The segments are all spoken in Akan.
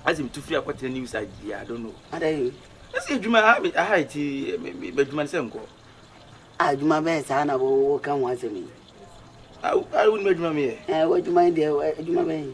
asi mi tu firi akɔtena new side yi i don't know. adayi. ɛsɛ adwuma ha mi aha ti mi bɛ adwuma sɛ nkɔ. adwuma bɛyɛ saa na wɔwɔ ka ho asɛm yi. awo awo ni bɛ adwuma mi yɛ. ɛɛ wɔ adwuma yi deɛ adwuma bɛyɛ.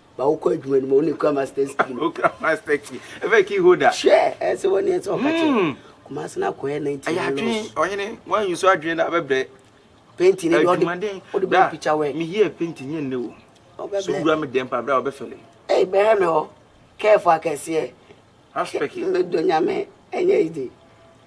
ba wokɔ adwuma no mu wo ne kura masters key no wokura master key ɛfɛ key holder hwɛ ɛsɛ wɔ ne ɛsɛ ɔka kyɛ hmm. kuma ase no akɔyɛ 19 ɛyɛ adwene ɔhene wɔanyi so adwene no abɛbrɛ penti no deɛ ɔde ɔde bɛ pikya wɛ meyɛ penti nyɛ nnɛ o so wura me dɛm pa berɛ a wɔbɛfɛle ɛyi bɛhɛ me hɔ kɛɛfo akɛseɛ aspɛki mɛdɔ nyame ɛnyɛ yi de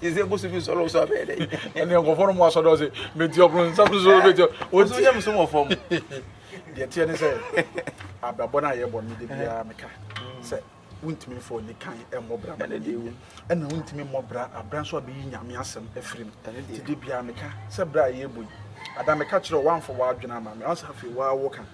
Yɛsɛ bosu bi nsɔlɔ so abɛɛ dɛ. Ɛnna nkɔfɔ no mu asɔ dɔ se meti ɔpono nsa so so meti ɔpono. Nso nyɛ musom wɔ fam. Deɛ teɛ ne sɛ abrabɔ no a yɛbɔ no de biara meka sɛ wontumi mfa ɔni kan mmɔ bra ma n'ani wu ɛna wontumi mmɔ bra abra nso abɛyi nyame asɛm afiri mu nti de biara meka sɛ bra a yɛbɔ yi ada meka kyerɛ woamfa w'adwene ama me ansa afei woawo ka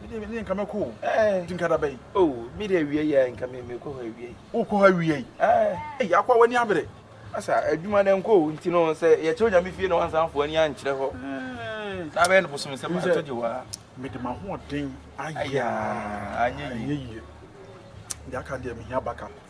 Me deɛ me deɛ nka mɛkɔ o. Ɛɛ. Ti nka da bɛyi. Oh me deɛ awia yi a nka me me kɔ hɔ awia yi. O kɔ hɔ awia yi. Ɛɛ. Ɛyi akɔ a w'ani abere. Asa adwuma na nkɔ o nti no sɛ yɛkyɛ onyame fie na wansan fo ani ankyerɛ hɔ. Ɛɛ. Na bɛyɛ no bosom nsɛm ato gye waa. Me de ma ho ɔden ayɛ. Ayɛ. Anyɛ yie. Deɛ aka deɛ me hia baka.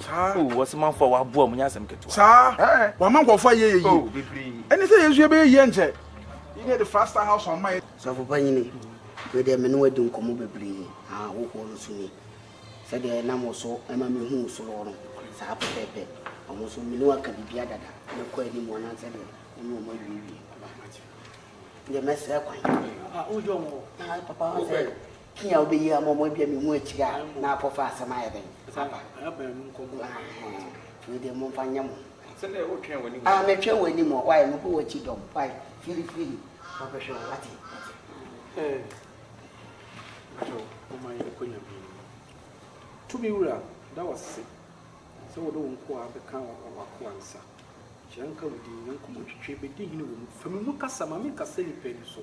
Saa. Oh, ɔsomafo a waboa mu nyɛ asɛm ketewa. Saa. Ɛɛ. Wama nkurɔfo ayɛ yɛ yie. Oh, bebree. Ɛne sɛ yɛn nso yɛbɛyɛ yie nkyɛ. Yi ne yɛde Frastal House ama yɛ. Sɔfo Panyin, me deɛ me ne wo adi nkɔmmɔ bebree, na hohoro no nso ni. Sɛdeɛ nam wo so ma mehuu wo soro hɔ no, saa pɛpɛɛpɛ. Wɔn nso, me ne wɔn aka biribiara dada, mɛkɔ anim anaasɛ deɛ wo ne wɔn awiewie. Papa, me deɛ mɛsrɛ kwan. Papa, woyɛ wɔn o. Papa, sɛ Pii a wobɛyi ama wɔn abia me mu akyiri a na akɔfa asɛm ayɛ dɛn aba. Wei deɛ momfa nyɛ mo. Ah, metwɛn w'anim o, wae, mebɔ w'akyi dɔm, wae, firifiri, mabɛhwɛ o, wate. Tumi wura da wase sɛ wode wo nkoa bɛka w'akoa nsa. Hyira nka wo din, Nyanko mu twitwi bɛdi hene wɔ mu. Fa me mu kasa, ma menkasa nnipa ani so.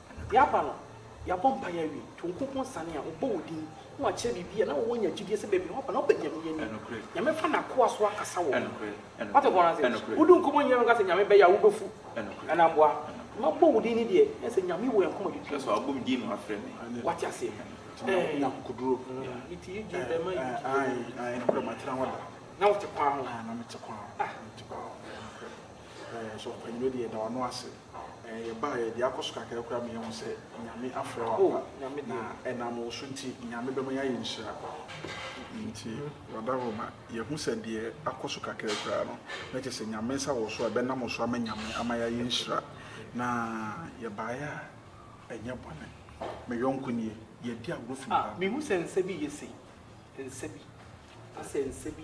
Yɛaba no, yɛabɔ mpaeɛ awie, to wo nkunkun asiane a, wobɔ wo din, na woakyerɛ biribi a na wowɔ nya gyidie sɛ baabi a woaba no wobɛ Nyame ani. Nyame fa N'akoa so akasa wɔ wo ho. Woate bɔno ase? Wodi nkɔmmɔ nyɛ no nka sɛ Nyame bɛyɛ a wobɛfu anaa mboa. Mabɔ wo din no deɛ, na sɛ Nyame wɔ yɛn koma dwudwo mu. Woate aseɛ? Ɛɛh. Na wote kwan ho? Ah. Ɛɛ yɛbaeɛ, deɛ akɔ so kakra koraa ma yɛahu sɛ Nyame afrɛ wo ampa, na ɛnam wo so nti Nyame bɛma yɛayɛ nhyira. Nti wada hɔ ma yɛahu sɛ deɛ akɔ so kakra koraa no, na kyerɛ sɛ Nyame nsa wɔ so a ɛbɛnam wo so ama Nyame ama yɛayɛ nhyira. Na yɛbaeɛ a ɛnyɛ bɔne. Me yɔnko nie, yɛadi agorɔ fi mu ha. Mehu sɛ nsa bi yɛ sei, nsa bi, asɛ nsa bi.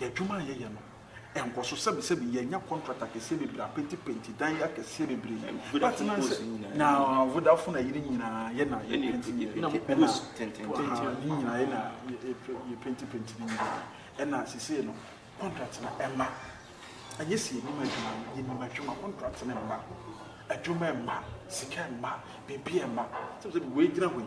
Yɛn adwuma a yɛyɛ no nkɔ so. Sɛbisɛbi yɛanya contract akɛseɛ bebree, apentipenti dan akɛseɛ bebree, but na sɛ na Vodafone ayi ne nyinaa yɛ na yɛ penti yɛ na ne nyinaa yɛ na yɛ penti penti ne nyinaa. Ɛna sesei no contract no ɛmma. Ɛnyɛ sɛ yɛnim adwuma no, yɛnim adwuma, contract no mma, adwuma mma, sika mma, biribiara mma. Sɛbisɛbi wei gyina hɔ yi.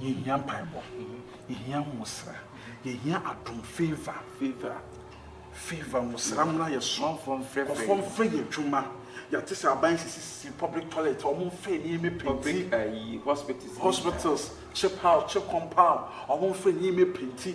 Yɛhia mpaebɔ, yɛhia nwosra, yɛhia adom, favour, favour, favour, nwosra mmra yɛ so, nkurɔfoɔ mfrɛ favour, nkurɔfoɔ mfrɛ yɛ adwuma, yɛate sɛ aban sisisisi public toilet, wɔn mfrɛ nneɛma penti, public ayi, hospitals, hospitals, check out, check compound, wɔn mfrɛ nneɛma penti,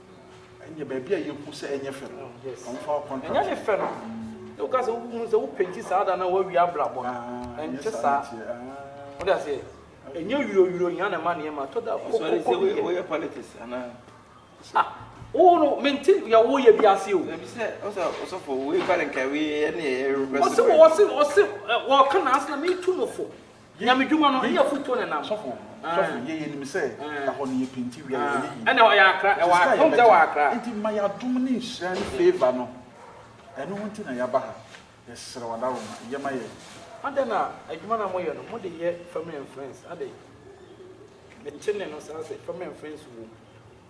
Ɛnyɛ baabi a yɛhu sɛ ɛnyɛ fɛ no. Ɔmfa wo contract. Ɛnyɛ ne fɛ no. Sɛ woka sɛ wohunu sɛ wo penti saa da na woawie abrabɔ no. Ɛnte saa. Wode aseɛ? Ɛnyɛ wiro wiro hia na ɛma nneɛma tɔ da kɔ kɔ kɔ bi yɛ. Woyɛ politics anaa? Ah, wo no mente yɛ wo yɛ bi ase o. Ɛbi sɛ ɔsɛ ɔsɔfo wei ba ne nkae wei ɛne ɛyɛ request. Ɔsɛ ɔsɛ ɔsɛ wɔka na asena me tu no fo. Nyamedwuma no yɛ afutuo na ɛnam. Sɔfo, sɔfo, yɛ yɛ nim sɛ ɛhɔ no yɛ penti wia yɛ ɔyɛ yie. Ɛna ɔyɛ akra, ɛwɔ adom sɛ wɔ akra. Nti ma yɛ adom ne nhyira ne favor no, ɛno ho nti na yɛ aba ha, yɛ srɛ wɔ adaworoma, yɛ ma yɛ. Adɛn na adwuma no a mo yɛ no mo de yɛ family and friends adɛn? Me te nne no saa sɛ family and friends wɔ mu.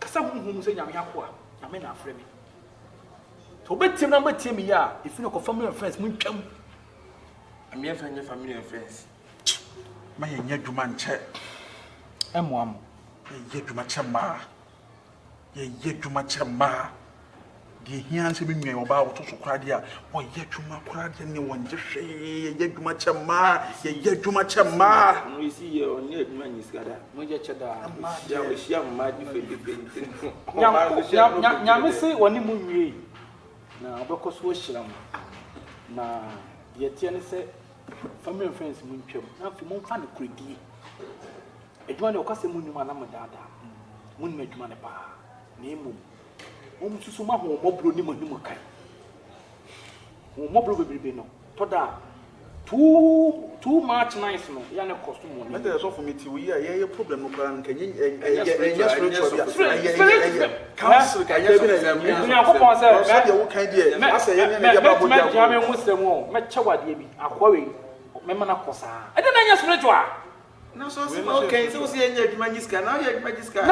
Kasa honhom mu sɛ Nyame akoa, Nyame na afrɛ me. Sɛ wobɛtie me na wobɛtie me yɛ a, ɛfiri no kɔ family and friends montwam. Ɛmeɛ mfa nyɛ family and friends. Ma yɛnyɛ adwuma nkyɛ. Ɛmmoa mo. Yɛnyɛ adwuma kyɛ mmaa. Yɛnyɛ adwuma kyɛ mmaa. Deɛ ɛhia ne sɛ me nua ɔbaa a ɔtɔ so koraa deɛ a ɔyɛ adwuma koraa deɛ ne ɔnyɛ hwee, yɛyɛ adwuma kyɛ mmaa, yɛyɛ adwuma kyɛ mmaa. Ɔno yɛsi yɛ ɔnyɛ adwuma nyɛ sika da. Moyɛ kyɛ daa. Ɔhyia ɔhyia mmaa difɛdifɛ nti no. Nyame Nyame se ɔne mo nwiei na ɔbɛkɔ so ahyira mo. Na deɛ ɛteɛ ne sɛ family and friends mo ntwam na afei momfa nokorɛdie. Adwuma deɛ ɔkasɛm nnim anaa modaadaa mo. Monim adwuma no paa na mmom Wɔsusu ma hɔn mmɔborɔ ne m'anim kan. Hɔn mmɔborɔ beberebe no tɔ da a, too too much nice no ya no kɔ so mu. Mɛtɛ yɛ sɔfo mete wo yi a yɛyɛ problem no koraa no nka nye ɛnyɛ spiritual bi a ɛyɛ ɛyɛ ɛyɛ council ka ɛnyɛ sɔfo ɛyɛ ɛyɛ nyankopɔn sɛ mɛ sɛdeɛ wo kan deɛ asɛ yɛn nyɛ ne yɛ baabo deɛ mɛtumi agyina me ho sɛ mu mɛkyɛ wadeɛ bi akoa wei mɛma no akɔ saa ɛdɛ na ɛnyɛ spiritual na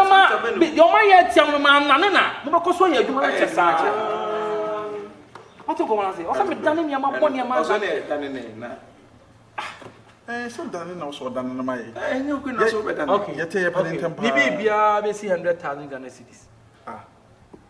ma deɛ ɔma yɛ atia mu no ma nane na mobɛkɔ so ayɛ adwuma no kyɛ saa ɔte nkɔmɔ ase ɔsɛ medane nneɛma bɔ nneɛma ɔsɛ ne ɛdane ne na ɛɛ sɛ dane na ɔsɛ ɔdane no ma yɛ ɛnyɛ okwe na sɛ ɔbɛdane yɛte yɛ pɛne ntɛm paa ne biribiara bɛsi 100,000 Ghana cedis ah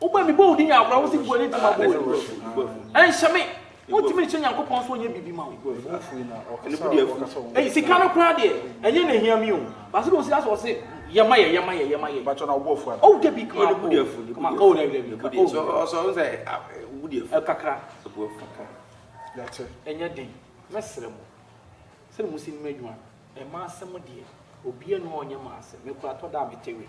Wobɔ me bɔwdi nya awerɛhow sɛ gua ne ti ma bɔɔ yi. Ɛnhyɛ me. Wontumi nhyɛ Nyankopɔn sɛ ɔnyɛ biribi ma wo. Ei, sika no koraa deɛ, ɛnyɛ na ehia me o. Baasa de osi asɔ ɔse, yɛ ma yɛ, yɛ ma yɛ, yɛ ma yɛ. Bàtchɔ na ɔbɔ fua. Oh, dabi kama o. Kama o, dabi dabi. Ka o. So ɔsɔ nsɛ ɛbu deɛ fua. Kakra. Ɛbu fua kakra. Yɛte. Ɛnyɛ den. Mɛsrɛ mo. Sɛ mo si nim adwuma. Ɛma asɛm deɛ. Obiara ni hɔ ɔnyɛ ma asɛm. Me koraa tɔ da a mete we.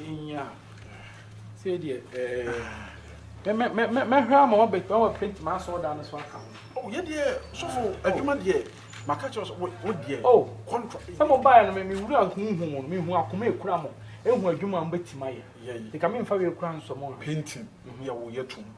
Nya. Sɛ deɛ ɛɛ mɛ mɛ mɛ mɛhwɛ ama wɔn bɛ wɔn paint maa sɔɔ dan no so aka ho. O oh, yɛ deɛ sɔfo oh. adwuma deɛ maka kyerɛ sɛ wo deɛ o oh. contract. Sɛ mo baa no mi wura huhu mo mi hu akoma ekura mo ehu adwuma mo bɛ ti ma yɛ. Yɛ yi. Nka mi nfa wei kura nsɔmɔ. Painting yɛ wo yɛ tum.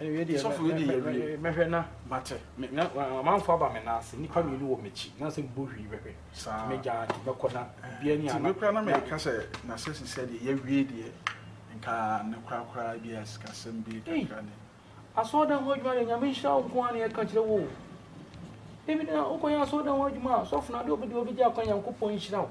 sɔfo wei deɛ yɛwie mɛhwɛ na mate amanfo aba me nan ase nnipa mmienu wɔ m'akyi na sɛ mebɔ hwii bɛhwɛ mɛgya ade mɛkɔ na bia ni ana mekora na meka sɛ na sɛ sisɛ deɛ yɛwie deɛ nka ne korakoraa bi a sikasɛm bi kakra ne asɔɔdan ho adwuma deɛ nyame nhyira wo nko a na yɛka kyerɛ wo ebi na wokɔyɛ asɔɔdan ho adwuma a sɔfo no adeɛ ɔbɛdi ɔbɛgye akwan nyankopɔn nhyira wo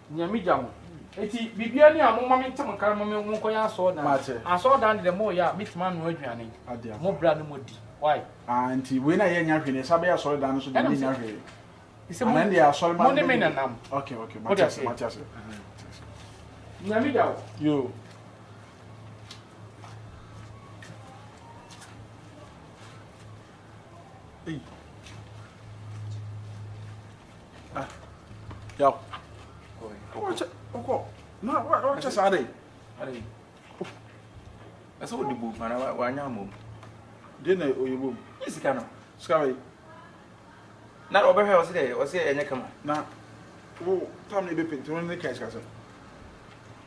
Nea me gya mo eti bibia ni a mo ma me ntem kar mo me mo nkɔ yɛ asɔɔ dan Mate. asɔɔ dan de dɛ mo yɛ a me tumi anoa aduane Ade aba. mo bra no mo di why Ah nti wei na yɛ nya hwee na yɛsa bɛyɛ asɔre dan no so deɛ Ɛnam ne sɛ- nya hwee. He said, Ana mo- ɛndeɛ asɔre ma mo ne me na nam Ok ok Wode mate ase aseɛ? mate ase. Nea me gya wo. Yoo. Ei. Ah. Yaw. Wakyɛ ɔkɔ. Na wakyɛ saa dɛ. Ade. Ɛsɛ wode bom ana wanya mmom. Deɛ na ɔyɛ bom. Ne sika no. Sika bɛyi. Na ɔbɛhwɛ ɔsɛ dɛ ɔsɛ ɛnyɛ kama. Na wo tam na ebepɛ nti no ne ka sika sɛ.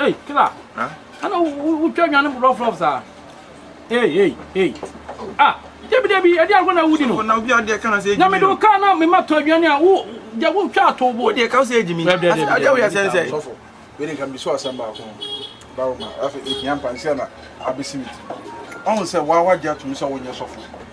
Ei killer ana wotwa nwa no rough rough saa ei ei ei ah debi debi ɛde agorɔ na wudi no na obi adeɛ ka na sɛ na mede woka na mema tɔ aduane a wo gya wotwa ato bo wodeɛ ka wo sɛ ɛdi mi adeɛ woyɛ sɛ nsɛ sɔfo wede nka meso asɛm baako bawo ma afei ɛhia mpa nsɛ na abɛsi me ti ɔhu sɛ woa wagye atom sɛ wonyɛ sɔfo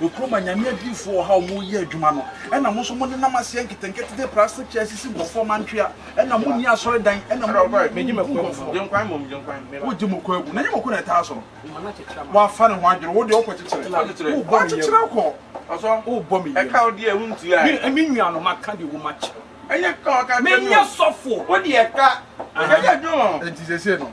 Nkrumah Nyame adiyifoɔ wɔ ha a wɔreyɛ adwuma no ɛna mo nso mo nenam aseɛ nketenkete de plastic chair sisi nkurɔfoɔ ɔmo antwea ɛna mo nni asɔredan ɛna mo mo mo nku nkurɔfoɔ wogye mo kɔ agu na nyɛ mako na ɛtaa so no wafa ne ho adwene wo deɛ wokɔ kyekyere wo bɔ kyekyere kɔ wo bɔ me yam me nua no maka deɛ wo ma kyɛ menyɛ sɔfo wo deɛ ka ɛnyɛ adwuma ma ho ɛnti sɛsɛ no